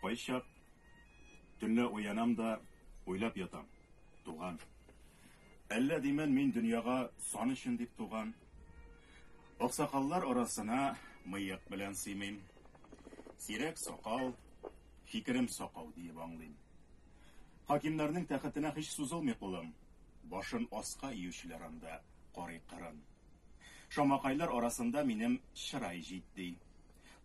Кайчак төнлә уянам да уйлап ятам, туган. Әллә димен мин дөньяга сан өчен дип туган. Аксакаллар арасына мыек белән сыймыйм. Сирәк сакал, фикерем сакау диеп аңлыйм. Хакимнәрнең тәхетенә һич сузылмый кулым. Башын аска иючеләр анда карый кырын. Шамакайлар арасында минем чырай җитди.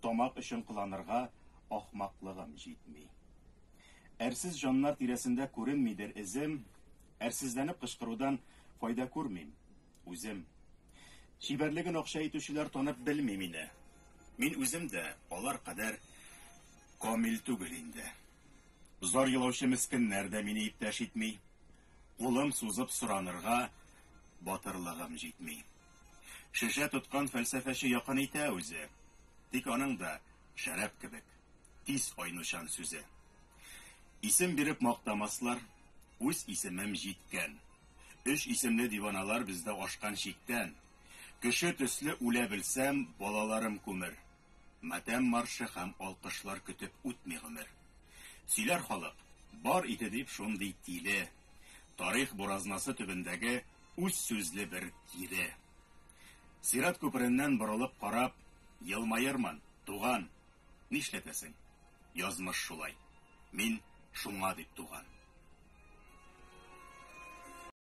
Тамак өчен кыланырга ахмаклыгым җитми. Әрсез җаннар тирәсендә күренмидер эзем, әрсезләнеп кычкырудан файда күрмим, үзем. Чибәрлеген акча итүчеләр танып белми мине. Мин үзем дә алар кадәр камил түгел инде. Зар елаучы мескеннәр дә мине иптәш итми. Кулым сузып соранырга батырлыгым җитми. Шешә тоткан фәлсәфәче якын итә үзе, Тик аның да, шәраб кебек, тиз айнучан сүзе. Исем биреп мактамаслар, үз исемем җиткән, Өч исемле диваналар бездә ашкан чиктән. Кеше төсле үлә белсәм, балаларым күмер, Матәм маршы һәм алкышлар көтеп үтми гомер. Сөйләр халык, бар иде дип шундый тиле, Тарих буразнасы төбендәге үз сүзле бер тире. Сират күпереннән борылып карап, Елмаермын, туган, нишләтәсең, язмыш шулай, Мин шуңа дип туган.